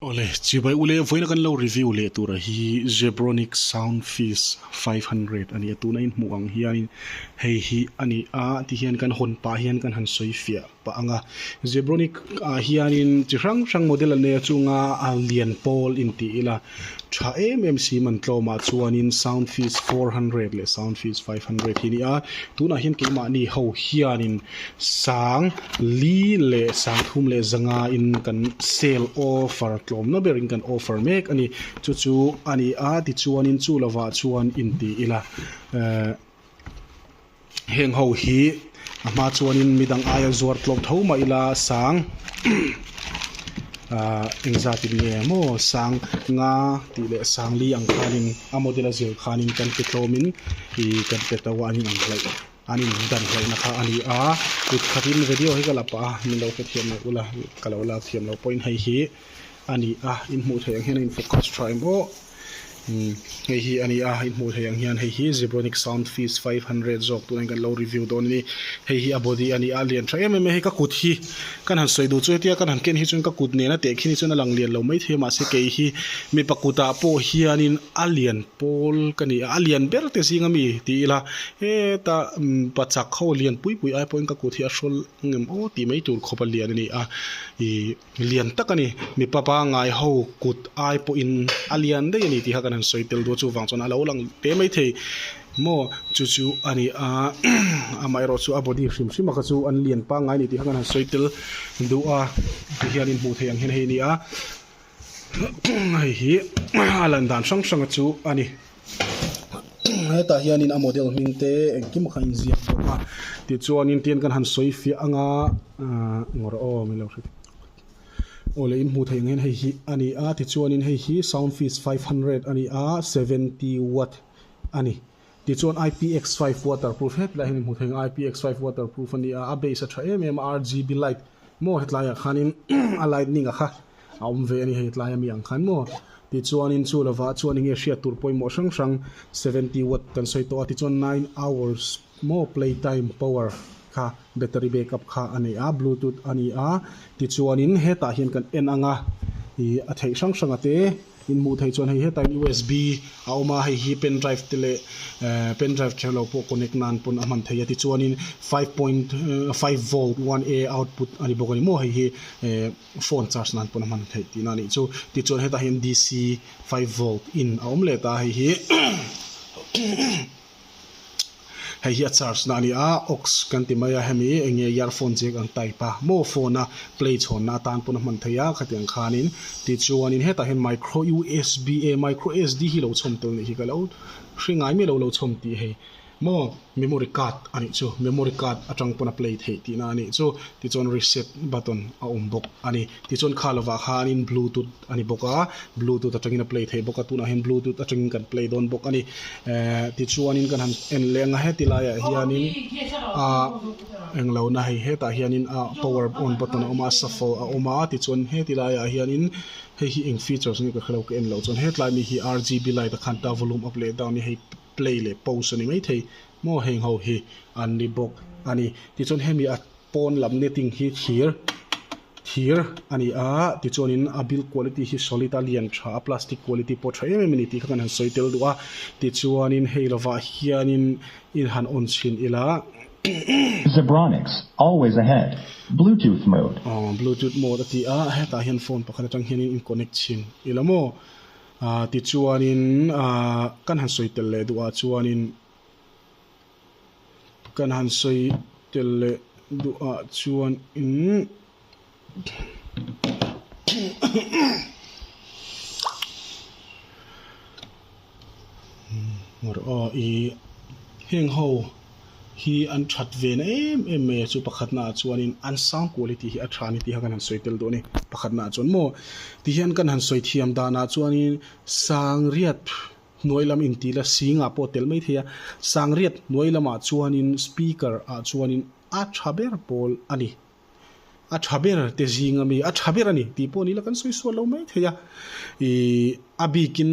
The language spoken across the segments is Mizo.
Awle, chibai ule, vawiina kan lo review leh tura hi Zebronic Soundfizz five hundred a ni a, tuna in hmuh ang hianin hei hi a ni a ti hian kan hawn pah hian kan han sawi fiah pah ang a, Zebronic ah hianin chi hrang hrang model an nei a, chunga a lian pawl in tih ila tha em em sim an tlawmah chuanin Soundfizz four hundred leh Soundfizz five hundred hi a ni a, tunah hian keimahni ho hianin. Sang li leh sang thum leh zanga in kan sale offer tlawmna ber in kan offer mek a ni. Chu chu a ni a ti chuan in chu lo vah chuan in ti ila ehh heng ho hi a hma chuan in midang aia zuar tlawm tho mah ila sang ahh eng zat in nge maw sang nga tih leh sang li ang khan in a model a zir khan in kan pe tlawm in ihh kan pe tauh a an inang hlaih. An indan hloihna kha a ni a, kut khatin video hi ka la pah a, min lo hrethiam leh ula ka lo lak thiam lo point hei hi a ni a, in hmuh theih ang hian a in focus tha em aw, hei hi a ni a, in hmuh theih ang hian hei hi Zebronic Sound Feast five hundred zawk tun in kan lo review dawn a ni, hei hi a body a ni a, a lian tha em em mai, hei ka kut hi kan han sawi duh chu hetia kan han ken hi chuan ka kut nena tehkhi ni chuan a lang lian lo maithei mahse kei hi mipa kutah pawh hianin a lian. Pawl ka ni a, a lian ber te zing a mi? ti ila, heta pa chak ho lian pui pui ai pawhin ka kut hi a hrawl ngem aw tih mai tur khawpa lian a ni a, ih lian tak a ni, mipa pangngai ho kut ai pawhin a lian daih a ni tih kha kan han sawi tel dawn a, chuvang chuan a lo lang te mai thei maw chu chu a ni a, amaherawh chu a body hrim hrima kha chu an lian pangngai a ni tih kha kan han sawi tel duh a, ti hian in hmuh theih ang hian hei a ni a. hei hi a lan dan hrang hrang chu a ni hetah hian in a model hming te engkim kha in ziak bawk a tichuan in tian kan han sawi fiah ang a ah engawh rawh aw milo hrek aw leh in hmuh theih ang hian hei hi a ni a tichuan in hei hi sound fees five hundred a ni a seventy watt a ni. Tichuan IPX five waterproof hetlai hian i hmu thei ang a, IPX five waterproof a ni a, a base a tha em em a, RGB light maw hetlaiah khanin a lightning-a kha a awm ve a ni hei tlai ami ang khan maw. Tichuanin chu lovah chuan eng nge hriat tur pawimawh hrang hrang seventy watt kan sawi tawh a, tichuan nine hours maw playtime power kha. Battery backup kha a nei a, Bluetooth a ni a, tichuanin hetah hian kan en anga ih a theih hrang hrang a te in hmuh theih chuan hei hetah hian usb a awm a, hei hi pen drive te leh eh pen drive ṭhiah lo pawh connect nan pawn a hman thei a, tichuanin five point five volt one a output a ni bawk a ni maw, hei hi eh phone charge nan pawn a hman theih tihna a nih chu, tichuan hetah hian DC five volt in a awm let a, hei hi Hei hi a charge na a ni a, aux kan ti mai a, hemi enge earphone jack ang type a, maw phone a play chhawn na atan pawn a hman thei a, khatiang khanin tichuanin hetah hian micro usb e micro SD hi lo chhawm tel nih hi ka lo hre ngai mai lo, lo chhawm tih hei maw memory card a nih chu, memory card atang pawn a play theih tihna a nih chu, tichuan reset button a awm bawk a ni, tichuan kha lovah khanin bluetooth. a ni bawk a, Bluetooth atangin a play thei bawk a, tunah hian Bluetooth atangin kan play dawn bawk a ni eh, tichuanin kan han en leh ang a, heti laiah hianin a eng lo na hei hetah hianin a power on button a awm a, a shuffle a awm a, tichuan heti laiah hianin hei hi eng features nge ka hre lo ka en loh chuan hetlai mi hi RGB light a khan ta volume up leh down hi hei play leh pause a ni maithei maw heng ho hi an ni bawk a ni, tichuan hemi a. Pawn lam netting hi thir thir a ni a, tichuanin a build quality hi solid a, lian tha a, plastic quality pawh tha em em a ni tih kha kan han sawi tel duh a, tichuanin hei lovah hianin in han on chhin ila umm. Zebronics, always ahead, Bluetooth mode. Aw, Bluetooth mode a ti a, hetah hian phone pakhat atang hianin in connect chhin ila maw, ahh tichuanin ahh kan han sawi tel leh duhah chuanin. Kan han sawi tel leh duh ah chuan in ngawrh aw i heng ho hi an that ve na em em mai a chu pakhat na ah chuan in an sang kual hi ti hi a tha ni tih kha kan han sawi tel duh a ni pakhat na ah chuan maw ti hian kan han sawi thiam dan ah chuan in sang riat. Hnuai lam in ti la singah pawh tel mai thei a, Sangriat hnuai lamah chuanin Speaker ah chuanin a tha ber pawl a ni. A tha ber te zinga mi a tha ber a ni tih pawh ni la kan sawi sual lo mai thei a. Ih a bikin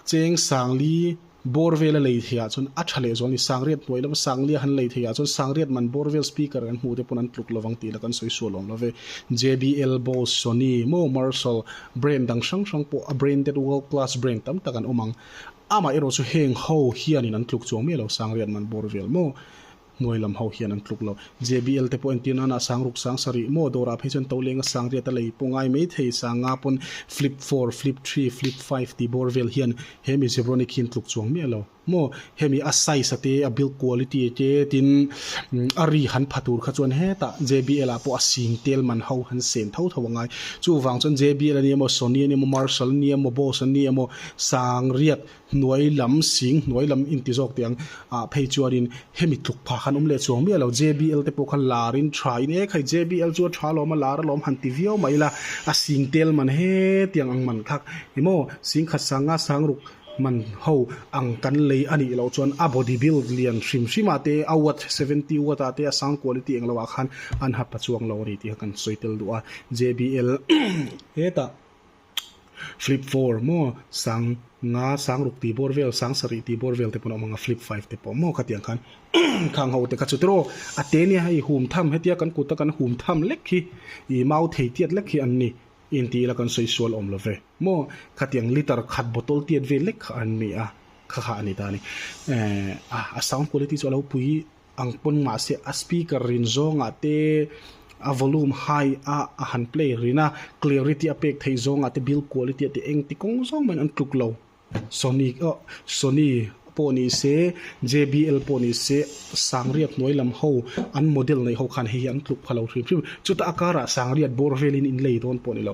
Cheng Sangli bawr vela lei thei ah chuan a tha leh zual a ni. Sangriat hnuai lama Sanglia han lei thei ah chuan Sangriat man bawr vel Speaker kan hmuh te pawn an tluk lovang tih la kan sawi sual awm love. JBL Boss, Sony, maw Marshall, Brand dang hrang hrang pawh a branded world class brand tam tak an awm ang. Amah erawh chu heng ho hianin an tluk chuang miah lo Sangriat man bawr vel maw hnuai lam ho hian an tluk lo. JBL te pawh entir nana sang ruk sang sa rih maw dawrah phei chuan Tolenga Sangriat a lei pawh ngai mai thei sang nga pawn flip four, flip three, flip five tih bawr vel hian he mi Zebronic hi an tluk chuang miah lo. Maw hemi a size a te a build quality a te tin a ri han pha tur kha chuan heta jbl ah pawh a sing tel man ho han sen tho tho angai chuvang chuan jbl ania maw sony ania maw marshall ania maw bose ania maw sang riat hnuai lam sing hnuai lam in ti zawk teh ang ah phei chuanin hemi tluk pha khan awm leh chuang miah lo jbl te pawh kha lar in tha in e khai jbl chu a tha lawm a lar alawm han ti viau mai ila a sing tel man he tiang ang man khak emaw sing khat sang nga sang ruk hman ho ang kan lei anih loh chuan a body build lian hrim hrim ah te a watt seventy watt ah te a sound quality eng lo ah khan an hapa chuang lo ani tih kha kan sawi tel duh a jbl hetah flip four maw sang nga sang ruk tih bawr vel sang sarih tih bawr vel te pawh an awm ang a flip five te pawh maw ka tiang khan khang ho te kha chu tiraw a te nia hei hum tham hetia kan kut a kan hum tham lek hi i mau thei tiat lek hi an ni intih ila kan sawi sual awm lo ve. Maw khatiang litre khat bottle tiat vel lek kha an ni a, kha kha a ni ta a ni. Aah a sound quality chu a lo pui ang pawn mah se a speaker rin zawngah te a volume high a a han play rin a, clarity a pek theih zawngah te build quality a ti engti kawng zawng maiin an tluk lo. Sony oh Sony pawh ni se, JBL pawh ni se, sangriat hnuai lam ho an model neih ho khan hei hi an tluk pha lo hrim hrim. Chuta a karah sangriat bawr velin in lei dawn pawh ni lo,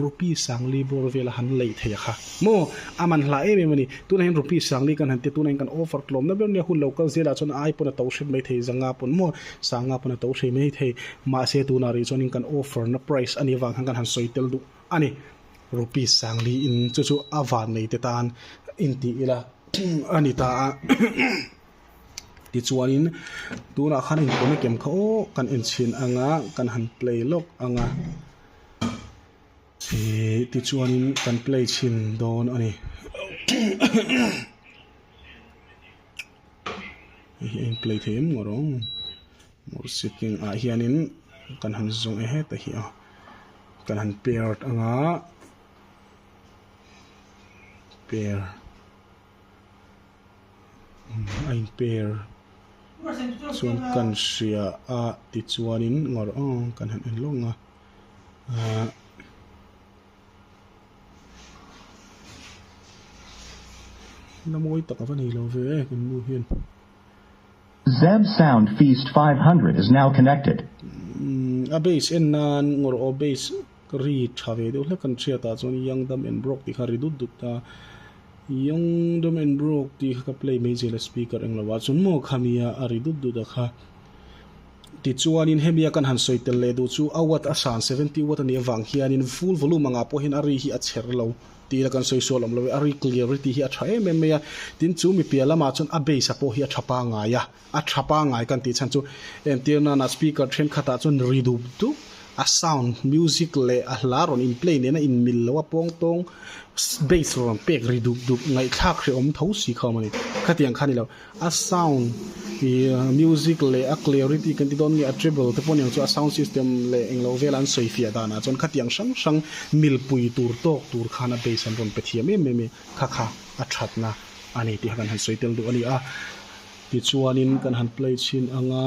rupi sangli bawr vela han lei thei a kha maw? A man hla em em a ni. Tunah hian rupi sangli kan han tia tunah hian kan offer tlawmna ber nia, hun lo kal zel ah chuan a ai pawn a to hret mai thei, za nga pawn maw sa nga pawn a to hre mai thei. Mahse tunah rih chuan in kan offer na price a nih avang khan kan han sawi tel duh a ni. Rupi Sangli in chu chu a vannei te tan in tih ila a ni ta a tichuanin tunah khan in pawna kem kha awk kan en chhin ang a kan han play lawk ang a ihh tichuanin kan play chhin dawn a ni hei hi a in play thei em ngawt ang. Motor cycling ah hianin kan han zawng e heta hi a kan han pair anga pair a in pair chuan kan hria a tichuanin ngawrh ang ang kan han en lawng a ah la mawi tak ava nei love kan nu hian. Zeb sound feast five hundred is now connected. A base en nan ngawr aw base ri tha ve deuh hlek kan hria tah chuan i young dumb and broke tih kha a ri dut dut a young dumb and broke tih kha ka play mai zel a speaker eng lova chuan maw khami a a ri dut dut a kha tichuan in hemi a kan han sawi tel leh duh chu a watt a san seventy watt a nih avang hian in full volume angah pawh hian a ri hi a chher lo Tihna kan sawi sual awm lo e, a ri clear ri tih hi a tha em em mai a, tin chu mi pial lamah chuan a base-a pawh hi a tha pangai a, a tha pangai kan tih chhan chu entir nana speaker thenkhatah chuan ri dup dup a sound music leh a hla rawn in play nena inmil loh a pawng tawng base lo rawn pek ri dup dup, ngaihthlak hre awm tho si khawm a ni, khatiang kha ni lo. A sound ih music leh a clarity kan ti dawn nge a treble te pawh niang chu a sound system leh englo vela an sawi fiah dan ah chuan khatiang hrang hrang mil pui tur tawk tur khan a bass an rawn pe thiam em em e kha kha a thatna a ni tih kha kan han sawi tel duh a ni a tichuan in kan han play chhin ang a.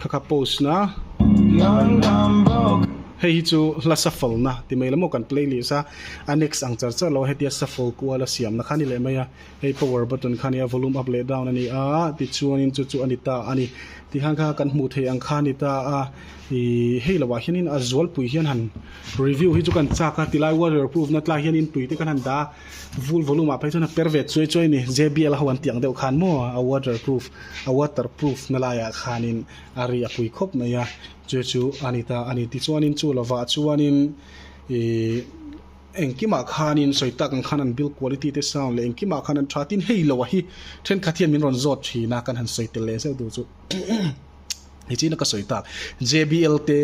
Khakha pose na hei hi chu hla shuffle na ti mai lam aw kan play leh sa a next ang char char lo hetia shuffle kual a siam na kha ni leh mai a hei power button kha nia volume up leh down a ni a tichuan in chu chu a ni ta a ni tikhan kha kan hmuh theih ang kha a ni ta a ih hei lo ah hian in a zual pui hian han review hi chu kan chak a tilai warrior proof na tlaiah hian in tui te kan han dah a. Vul volume ah phei chuan a per ve chuai chuai a ni. JBL ho an tih ang deuh khan maw a waterproof a waterproof na laiah khanin a ri a pui khawp mai a chu chu a ni ta a ni tichuanin chu lovah chuanin ih engkimah khanin sawi tak ang khan an build quality te sound leh engkimah khan an tha tin hei lo a hi thenkhat hian min rawn zawt thin a kan han sawi tel leh zeuh duh chu. Hi chi na ka soi tak JBL te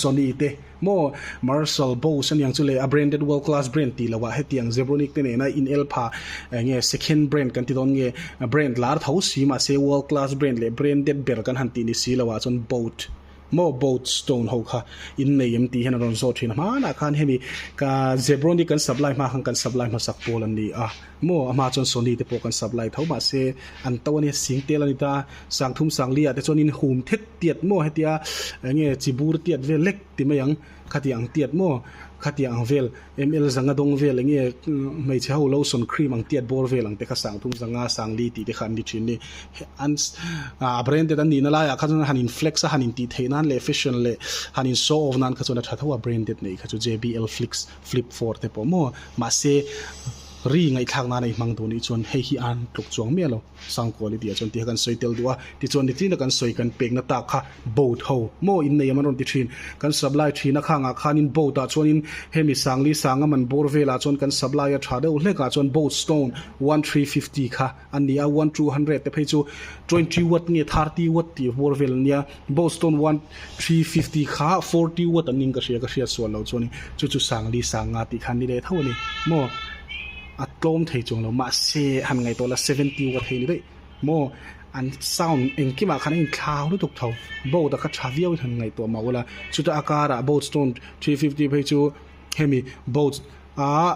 Sony te mo Marshall Bose aniang chu le a branded world class brand ti lawa hetiang Zebronic te nena in el pha nge second brand kan ti don nge brand lar tho si ma se world class brand le branded ber kan han ti ni si lawa chon boat mo boat stone ho kha in nei em ti hian ron zawt thin hmana khan hemi ka Zebronic kan supply hma khan kan supply hma sak pawl an ni a Maw a hma chuan Sony te pawh kan sap lai tho mah se an to a nia sing tel a ni ta Sangthum Sangliah te chuan in hum thet tiat maw hetia eng nge chi bur tiat vel lek ti mai ang khatiang ang tiat maw khatiang ang vel ML zanga dawng vel eng nge hmeichhe ho lotion cream ang tiat bawr vel ang te kha Sangthum Zanga Sangli tih te kha an ni thin ni an a branded an nihna laiah kha chuan han in flex a han intih theih nan leh fashion leh han in show off nan kha chuan a tha tho a branded neih kha chu JBL Flix Flip four te pawh maw? Mahse, ri ngaihthlak nana i hmang duh nih chuan hei hi a han tluk chuang miah lo, Sangkual i ti a chuan ti kha kan sawi tel duh a, tichuan ni tlina kan sawi kan pekna tak kha boat ho maw in nei ang an rawn ti thin, kan supply thin akhang ah khanin boat ah chuan in hemi Sangli Sangam an bawr vel ah chuan kan supply a tha deuh hlek ah chuan boat stone one three fifty kha an ni a one two hundred te phei chu twenty watt nge thirty watt tih a vuar vel a nia boston one three fifty kha forty watt an ning ka hria ka hriat sual lo chuan in chu chu sang li sang nga tih khan ni leh tho a ni maw a tlawm thei chung lo mahse han ngaih tawh la seventy watt hi a ni daih maw an sound engkim ah khan a inthlak lutuk tho boat a kha tha viau in han ngaih tawh mah ula chuta a kar ah boston three fifty phei chu hemi boat aa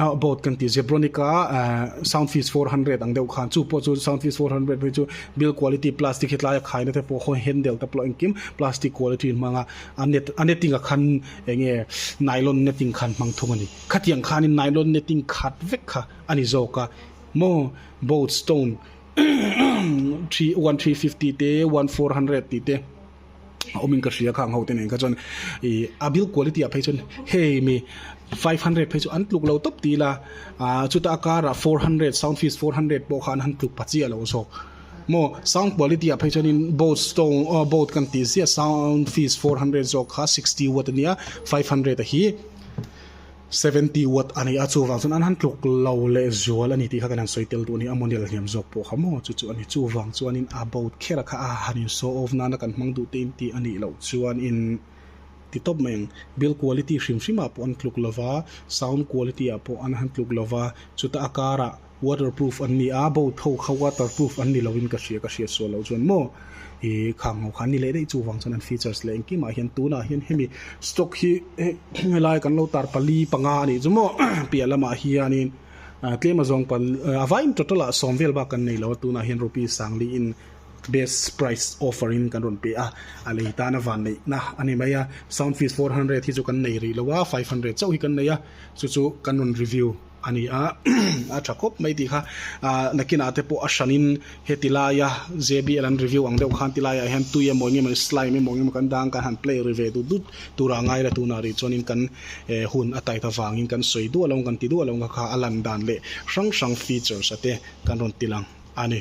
ah boat kan tih zebronica ah sound fees four hundred ang deuh khan chu pawh chu sound fees four hundred hi chu build quality plastic hetlai a khaina te pawh khawi hen del te pawh engkim plastic quality an hmang a a net a netting a khan eng nge nylon netting khan hmang thung a ni khatiang khanin nylon netting khat vek kha a ni zawk a maw boat stone three one three fifty te one four hundred tih te. a awmin ka hria kha ang hote nen kha chuan ih a build quality ah phei chuan hei mi five hundred phei chu an tluk lo tawp tih ila ah chuta a kara four hundred sound fees four hundred pawh kha an han tluk pha chiah lo zawk maw sound quality ah phei chuan in boat stone aw boat kan tih ziah sound fees four hundred zawk kha sixty watt ania five hundred a hi Seventy watt a ni a, chuvang chuan an han tluk lo leh zual a ni tih kha kan han sawi tel duh a ni, a model hniam zawk pawh kha maw chu chu a ni. Chuvang chuanin about kher kha a han in show off nana kan hmang duh te in tih a nih loh chuan in ti tawp mai ang. Build quality hrim hrimah pawh an tluk lo va, sound quality-ah pawh an han tluk lo va, chuta a karah, waterproof an ni a boat ho kha waterproof an ni lo in ka hria ka hria sual lo chuan maw i khang ho kha a ni leh daih chu vang chuan an features leh engkim ah hian tun ah hian hemi stock hi hemi lai kan lo tar pali panga a nih chu maw piah lam ah hian in ah tlem a zawng pal a vai in total ah sawm vel bak kan nei lo a tun ah hian rupee sang li in best price offer in kan rawn pe a a lei tan a van neih na a ni mai a sound fees four hundred hi chu kan nei rih lo a five hundred chauh hi kan nei a chu chu kan rawn review a ni a a tha khawp mai tih kha ah nakinah te pawh a hran in heti laia J B L an review ang deuh khan ti laiah hian tui emaw eng emawni slime emaw eng emaw kan dang kan han play ri ve dut dut tura ngai la tunah rih chuan in kan eh hun a tai ta vang in kan sawi duah lo ang kan ti duah lo ang kha a lan dan leh hrang hrang features a te kan rawn ti lang a ni.